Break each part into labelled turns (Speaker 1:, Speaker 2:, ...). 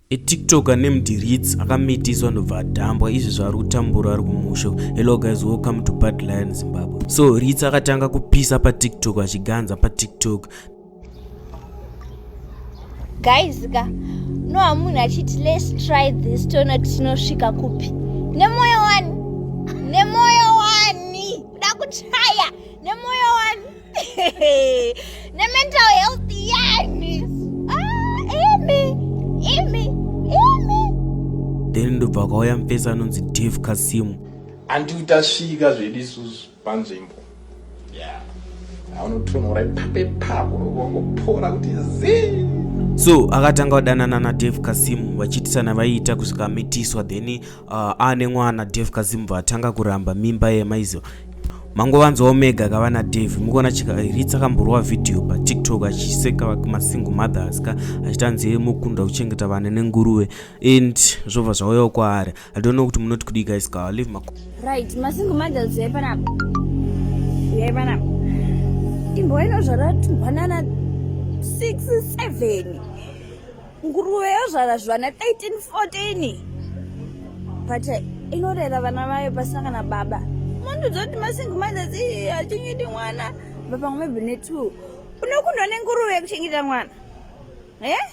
Speaker 1: etiktoker named Ritz akamitiswa ndobva adhambwa izvi zvaari kutambura ari kumusha hello guys welcome to bad lion zimbabwe so Ritz akatanga kupisa patiktok achiganza patiktok
Speaker 2: guys ka no hamunhu achiti let's try this toona kuti tinosvika kupi nemoyo wani nemoyo wani kuda kuchaya nemoyo wani nemental health yani ah, imi imi imi
Speaker 1: then ndobva kwauya mupesa anonzi dave kasimu andiu
Speaker 3: tasvika zvedu isusu panzvimbo yeah. anotonhora ipape pako vangopora kuti zii so
Speaker 1: akatanga kudanana nadave kasimu vachiitisana vaiita kusvika amitiswa then uh, aane mwana Dave Kazimba atanga kuramba mimba yemaizo mangovanzi omega kava nadave mukuona chikaritsa kamborova vhidhiyo patiktok achiseka masingle mothers ka achiti anzi mukunda kuchengeta vana nenguruve and zvobva zvauyawo kwaari i don't know kuti munoti kudii guys ka live mako right masingle
Speaker 2: mothers yai panapa yai panapa imboinozvara tumhanana 6 7 nguruve yozvara zvivana 13 14 but eh, inorera vana vayo pasina kana baba mandiudza kuti masingi mazasi achengeti mwana vapamwe maybe netwo unokundwa nenguruve yekuchengeta mwana e eh?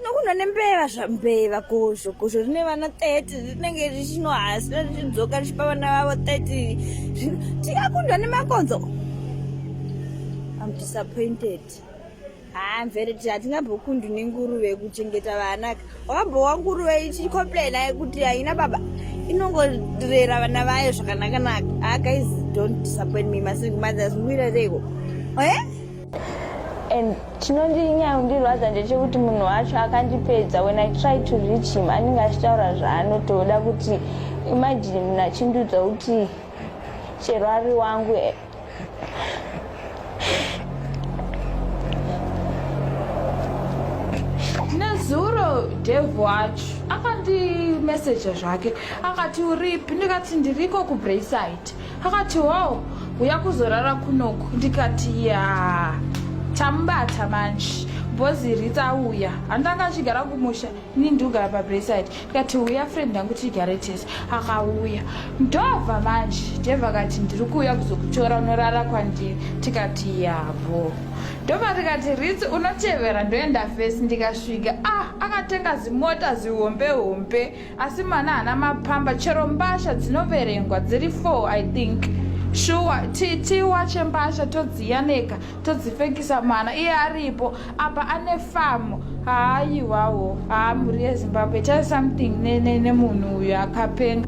Speaker 2: nokundwa nembeva zvambeva kozvo kozvo rine vana 30 rinenge richinohasira richidzoka richipa vana vavo 30 tikakundwa nemakonzo am disappointed hanzi riti hatingambokundi nenguruve kuchengeta vana wakambowa nguruve ichicomplaina yekuti haina baba inongorera vana vayo zvakanakanaka ah, guys don't disappoint me masingle mothers muira reiko eh? and
Speaker 4: chinondinyaundirwadza ndechekuti munhu wacho akandipedza when i try to reach him anenge achitaura zvaanotoda kuti imajini munhu achindiudza kuti chero ari wangu eh,
Speaker 5: nezuro dev wacho akandimeseja zvake akati uripi ndikati ndiriko kubrayside akati wow uya kuzorara kunoku ndikati ya tambata manje bhozi ritauya handanga achigara kumusha ini ndogara pabrayside tikati uya friend yangu tigare tese akauya ndobva manje deva kati ndiri kuuya kuzokutora unorara kwandiri tikati yavo ndobva tikati ritsi unotevera ndoenda fesi ndikasvika ah akatenga zimota zihombe hombe asi mana hana mapamba chero mbasha dzinoverengwa dziri four i think shuwa tiwache mbasha todziyaneka todzipfekisa mwana iye aripo apa ane famu haayiwawo haa mhuri yezimbabwe itai something nemunhu uyo akapenga